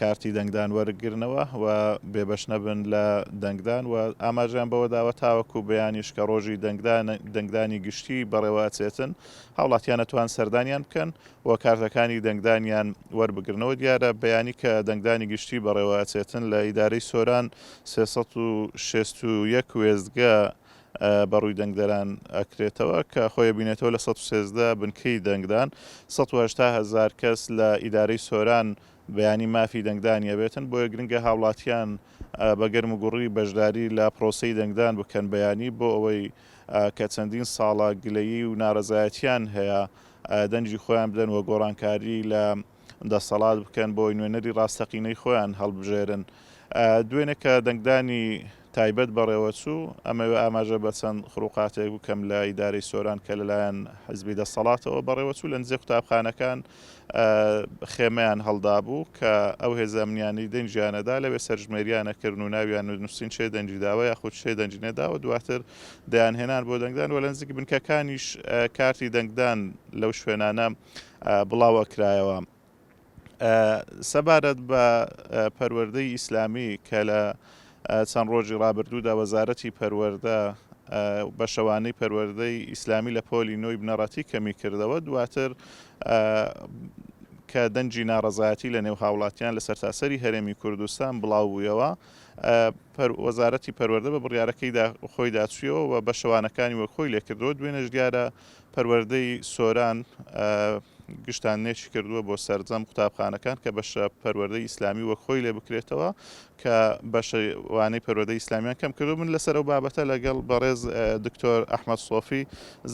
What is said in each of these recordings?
کارتی دەنگدان وەرگرنەوە و بێبەش نەبن لە دەنگدان و ئاماژەیان بەوەداوە تاوەکو بەیانیش کە ڕۆژی دەنگدانی گشتی بەڕێوە ئەچێتن هاوڵاتیان ئەتوان سەردانیان بکەن و کارتەکانی دەنگدانیان وەربگرنەوە دیارە بەیانی کە دەنگدانی گشتی بەڕێوە ئەچێتن لە ئیدارەی سۆران سێ سەد و شەست و یەک وێستگە بە ڕووی دەنگدەران ئەکرێتەوە کە خۆی ئەبینێتەوە لە سەد و سێزدە بنکەی دەنگدان سەد و هەشتا هەزار کەس لە ئیدارەی سۆران بەیانی مافی دەنگدانی ئەبێتن بۆیە گرنگە هاوڵاتیان بە گەرم و گوڕی بەشداری لە پرۆسەی دەنگدان بکەن بەیانی بۆ ئەوەی کە چەندین ساڵە گلەیی و نارەزایەتیان هەیە دەنگی خۆیان بدەن و گۆڕانکاری لە دەسەڵات بکەن بۆی نوێنەری ڕاستەقینەی خۆیان هەڵبژێرن. دوێنێ کە دەنگدانی تایبەت بەڕێوەچوو، ئەمەوێ ئاماژە بە چەند خروقاتێک بکەم لە ئیدارەی سۆران کە لەلایەن حزبی دەسەڵاتەوە بەڕێوەچوو، لە نزیک قوتابخانەکان خێمەیان هەڵدابوو کە ئەو هێزە ئەمنییانەی دەنگیانەدا لەوێ سەرژمێرییان ئەکرد و ناویان نووسین چێ دەنگی داوە یاخود چێ دەنگی نەداوە دواتر دەیانهێنان بۆ دەنگدان و لە نزیک بنکەکانیش کارتی دەنگدان لەو شوێنانە بڵاوەکرایەوە سەبارەت بە پەروەردەی ئیسلامی کە لە چەند ڕۆژی ڕابردوودا وەزارەتی پەروەردە بە شەوانەی پەروەردەی ئیسلامی لە پۆلی نۆی بنەڕەتی کەمی کردەوە دواتر کە دەنجی ناڕەزایەتی لە نێو هاوڵاتیان لە سەرتاسەری هەرێمی کوردستان بڵاو بوویەوە وەزارەتی پەروەەردە بە بڕیارەکەیدا خۆیدا چویەوە و بە شەوانەکانی وەک خۆی لێکردەوە دوێنێش دیارە پەروەردەی سۆران گشتاندنێکی کردووە بۆ سەرجەم قوتابخانەکان کە بەشە پەروەردەی ئیسلامی وەک خۆی لێ بکرێتەوە کە بەشەوانەی پەروەردەی ئیسلامیان کەم کردو من لەسەر و بابەتە لەگەڵ بەڕێز دکتۆر ئەحمد سۆفی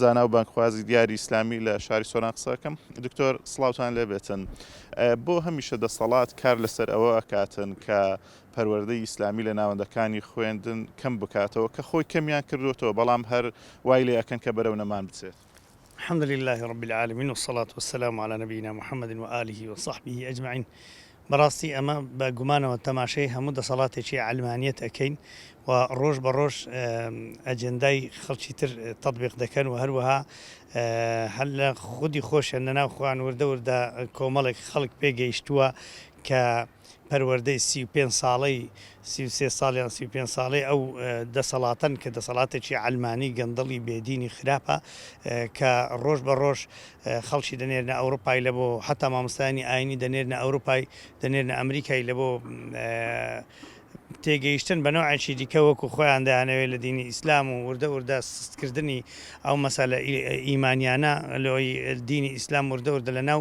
زانا و بانکخوازی دیاری ئیسلامی لە شاری سۆران قسەکەم دکتۆر سلااوان لێبێتن بۆ هەمیشە دەسەڵات کار لەسەر ئەوە ئەکاتن کە پەروەردەی ئیسلامی لە ناوەندەکانی خوێندن کەم بکاتەوە کە خۆی کەمیان کردۆتەوە بەڵام هەر وای لێ ئەکەن کە بەرەو نەمان بچێت. الحمد للە رب العالمین والصلاة والسلام علی نبینا محمد وآله وصحبه اجمعین بەڕاستی ئەمە بە گومانەوە تەماشەی هەموو دەسەڵاتێکی عەلمانیەت ئەکەین و ڕۆژ بە ڕۆژ ئەجێندای خەڵکی تر تەطبیق دەکەن و هەروەها هەر لە خودی خۆشیان لەناو خۆیان وردە وردە کۆمەڵێک خەڵک پێگەیشتووە کە پەروەردەی سی و پێنج ساڵەی سی و سێ ساڵ یان سی و پێنج ساڵەی ئەو دەسەڵاتەن کە دەسەڵاتێکی عەلمانی گەندەڵی بێ دینی خراپە کە ڕۆژ بە ڕۆژ خەڵکی دەنێرنە ئەوروپای لە بۆ حتا مامۆستایانی ئاینی دەنێرنە ئەوروپای دەنێرنە ئەمریکای لە بۆ تێگەیشتن بە نەوعێکی دیکە وەکو خۆیان دەیانەوێت لە دینی ئیسلام و وردە وردە سستکردنی ئەو مەسەلە ئیمانیانە لۆی دینی ئیسلام وردە وردە لە ناو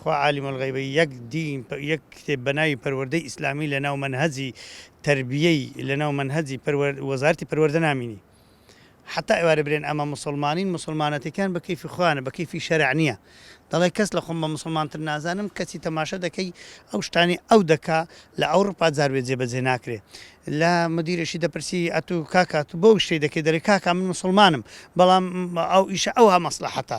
خوا عالم الغیبە یەک دین یەک کتێب بەناوی پەروەردەی ئیسلامی لەناو مەنهەجی تەربیەی لەناو مەنهەجی پەروەر وەزارەتی پەروەردە نامینی حەتا ئێوارە برێن ئەمە موسڵمانین موسڵمانەتیکان بە کەیفی خۆیانە بە کەیفی شەرع نیە دەڵێ کەس لە خۆم بە موسڵمان تر نازانم کەچی تەماشا دەکەی ئەو شتانەی ئەو دەکا لە ئەوڕوپا جار بێ جێبەجێ ناکرێ لە مدیرێکی دەپرسی ئەتو کاکا تو بۆ شتێ دەکەی دەرێ کاکا من موسڵمانم بەڵام ئەو ئیشە ئەوها مەسلەحەتە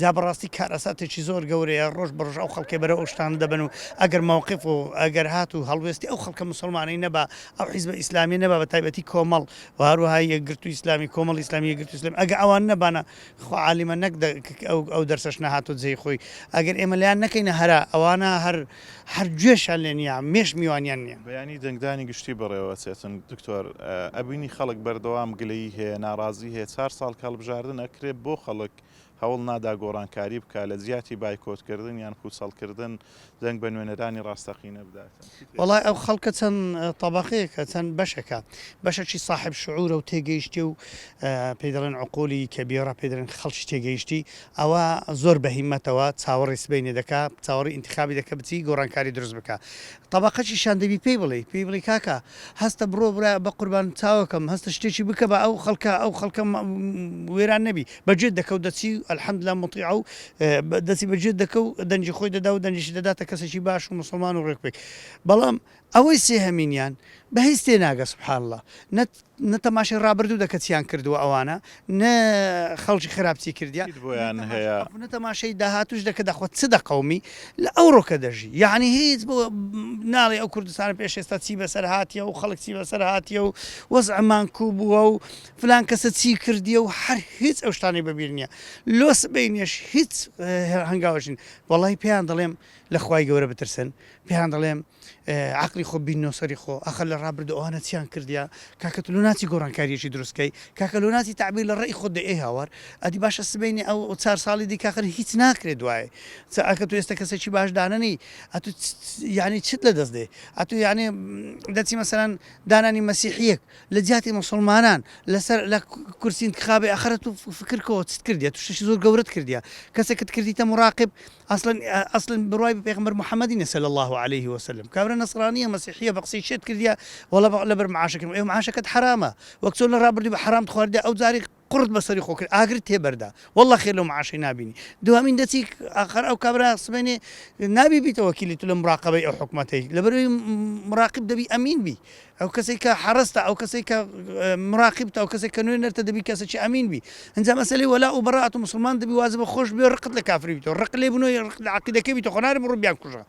جا بەڕاستی کارەساتێکی زۆر گەورەیە ڕۆژ بە ڕۆژ ئەو خەڵکەی بەرەو ئەو شتانە دەبەن و ئەگەر مەوقف و ئەگەر هات و هەڵوێستی ئەو خەڵکە موسڵمانەی نەبا ئەو حیزبە ئیسلامیە نەبا بە تایبەتی کۆمەڵ و هەروەها یەکگرتووی ئیسلامی کۆمەڵی ئیسلامی یەکگرتووی ئیسلامی ئەگە ئەوان نەبانا خوا عالیمە نەک دە ک ئەو ئەو دەرسەش نەهاتۆ جێی خۆی ئەگەر ئێمە لێیان نەکەینە هەرا ئەوانە هەر هەر گوێشیان لێ نیە مێش میوانیان نیە. بەیانی دەنگدانی گشتی بەڕێوە ئەچێتن دکتۆر ئەبینی خەڵک بەردەوام گلەیی هەیە ناڕازی هەیە چار ساڵ کە هەڵبژاردن ئەکرێ بۆ خەڵک هەوڵ نادا گۆڕانکاری بکات، لە جیاتی بایکۆتکردن یان پووچەڵکردن، دەنگ بە نوێنەرانی ڕاستەقینە بدات. وەڵای ئەو خەڵکە چەند تەبەقەیەکە، چەند بەشێکە. بەشەکی ساحێب شعوورە و تێگەیشتێ و پێی دەڵێن عقولی کەبیرە، پێی دەڵێن خەڵکی تێگەیشتی، ئەوە زۆر بە هیمەتەوە چاوەڕێی سبەینێ دەکا، چاوەڕێی ئینتخابی دەکا بچی گۆڕانکاری دروست بکا. تەبەقەکیشیان دەبی پێی بڵێی، پێی بڵێی کاکە هەستە بڕۆ برا بە قوربان چاوەکەم، هەستە شتێکی بکە با ئەو خەڵکە، ئەو خەڵکە وێران نەبی. بە جێت دەکەو دەچی و الحمدللە موطیعە و دەچی بە جێت دەکەو دەنگی خۆی دەدا و دەنگیشی دەداتە کەسێکی باش و موسڵمان و ڕێک پێک بەڵام ئەوەی سێهەمینیان بە هیچ تێ ناگە سبحان اللە نە نە تەماشای ڕابردوو دەکە چیان کردووە ئەوانە نە خەڵکی خراپ چی کردیان هیچ بۆیان نە تەماشا هەیە. ئەو نە تەماشای داهاتووش دەکە دەخوا چ دەقەومی لە ئەوڕۆکە دەژی یەعنی هیچ بۆ ناڵێ ئەو کوردستانە پێش ئێستا چی بەسەر هاتیە و خەڵک چی بەسەر هاتیە و وەزعە مانکوو بووە و فلان کەسە چی کردیە و هەر هیچ ئەو شتانەی بە بیر نیە لۆ سبەینێش هیچ هەنگاوێکش نین وەڵای پێیان دەڵێم لە خوای گەورە بترسن پێیان دەڵێم عەقڵی خۆ بیننەوە سەری خۆ ئەخە لە ڕابردوو ئەوانە چیان کردیە کاکە تۆ لۆ ناچی گۆڕانکاریەکی دروست کەی کاکە لۆ ناچی تەعبیر لە ڕێی خۆت دەی ئەی هاوار ئەدی باشە سبەینێ ئەو ئەو چار ساڵی دی کاکە هیچ ناکرێ دوایێ چ ئەکە تو ئێستە کەسێکی باش دانەنی ئەتو یانی چت لە دەست دێ ئەتو یانێ دەچی مەسەلەن دانانی مەسیحیەک لە جیاتی موسڵمانان لە سەر لە کورسی انتخابی ئەخرە تو فکر کۆ چت کردیە تو شتێکی زۆر گەورەت کردیە کەسێکت کردیتە مراقب ئەسڵەن ئەسڵەن بڕوای بە پێغەمبەر محمدی نیە صلی اللە علیە و سلم کابرا نەسڕانیە مەسیحیە بە قسەی شێت کردیە وەڵا لەبەر معاشەکەی ئەوێ معاشەکەت حەرامە وەک چۆن لە ڕابردوو بە حەرامت خواردیە ئەو جاریش قوڕت بەسەری خۆ کرد ئاگرت تێ بەردا واللە خێر لەو معاشەی نابینی دوهەمین دەچی ئاخەر ئەو کابرا سبەینێ نابی بیتە وەکیلی تو لە مراقەبەی ئەو حکومەتەی لەبەروی مراقب دەبی ئەمین بی ئەو کەسەی کە حەرەستە ئەو کەسەی کە مراقب تا ئەو کەسەی کە نوێ نەرتە دەبی کەسەی ئەمین بی ئەنجا مەسەلی وەلا و بەڕات و مسلمان دەبی وازە بە خۆش بێ ڕقت لە کافری بیتەوە ڕق لێ بنۆی ڕق لە عقیدەکەی بیتە خۆناری بڕو بیان کوژە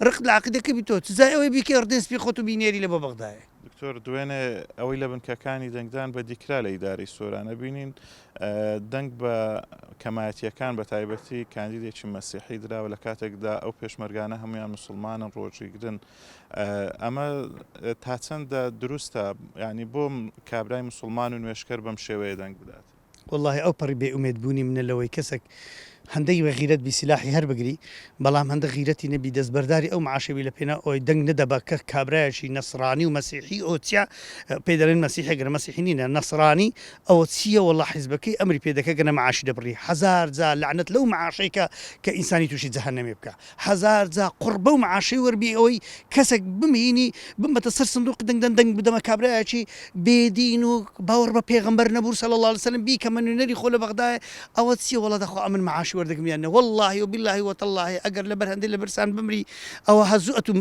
ڕق لە عقیدەکە بیتەوە تزای ئەوەی بیکە ڕدێن سپی خۆت و بینێری لە بۆ بەغدایە دکتۆر دوێنێ ئەوەی لە بنکەکانی دەنگدان بەدیکرا لە ئیدارەی سۆرانە بینین دەنگ بە کەمایەتیەکان بە تایبەتی کاندیدێکی مەسیحی دراوە لە کاتێکدا ئەو پێشمەرگانە هەمویان مسلمانن ڕۆژیگرن ئەمە تا چەندە دروستە ینی بۆم کابرای مسلمان و نوێشکەر بەم شێوەیە دەنگ بدات وەڵاهی ئەو پەڕی بێ ئومێد بوونی منە لەوەی کەسەک هەندەی بە غیرەت بی سیلاحی هەر بگری بەڵام هەندە غیرەتی نەبی دەست بەرداری ئەو معاشە بی لە پێناو ئەوەی دەنگ نەدە بە کە کابرایەکی نەسڕانی و مەسیحی ئەوە چیا پێی دەڵێن مەسیحێ گەر مەسیحی نینە نەسڕانی ئەوە چییە وەڵا حیزبەکەی ئەمری پێ دەکە گەنە معاشی دەبڕی هەزار جار لەعنەت لەو معاشەی کە کە ئینسانی تووشی جەهەنەمێ بکا هەزار جا قوڕ بەو معاشەی وەر بێی ئەوەی کەسەک بمێینی بمەتە سەر سندوقی دەنگ دەن دەنگ بدەمە کابرایەکی بێ دین و باوەڕ بە پێغەمبەر نەبوو صلی اللە علیە وسلم بیکەمە نوێنەری خۆ لە بەغدایە ئەوە چیە وەڵا دەخوا ئەمن معاشی وەردەگرم یان نە واللەهی و باللەهی و تاللەهی ئەگەر لە بەر هەندەی لە برسان بمری ئەوە هەزوو ئەتوو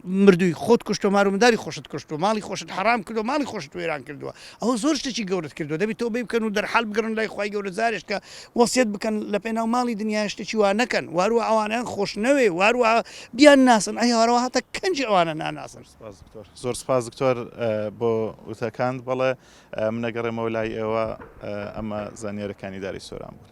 مردووی خۆت کوشت و مار و منداری خۆشت کوشت و ماڵی خۆشت حەڕام کرد و ماڵی خۆشت وێران کردووە ئەوە زۆر شتەکی گەورەت کردوە دەبی تۆبەی بکەن و دەرحال بگەڕن لای خوای گەورە جارێش کە وەسیەت بکەن لە پێناو ماڵی دنیا شتەکی وا نەکەن واروە ئەوانیان خۆش نەوێ واروە بیان ناسن ئەی هەوارەوە هاتە کەنجی ئەوانە ناناسن زۆر سپاس دکتۆر بۆ وتەکان بەڵێ منەگەڕێمەوە لای ئێوە ئەمە زانیارەکانی داری سۆران بوون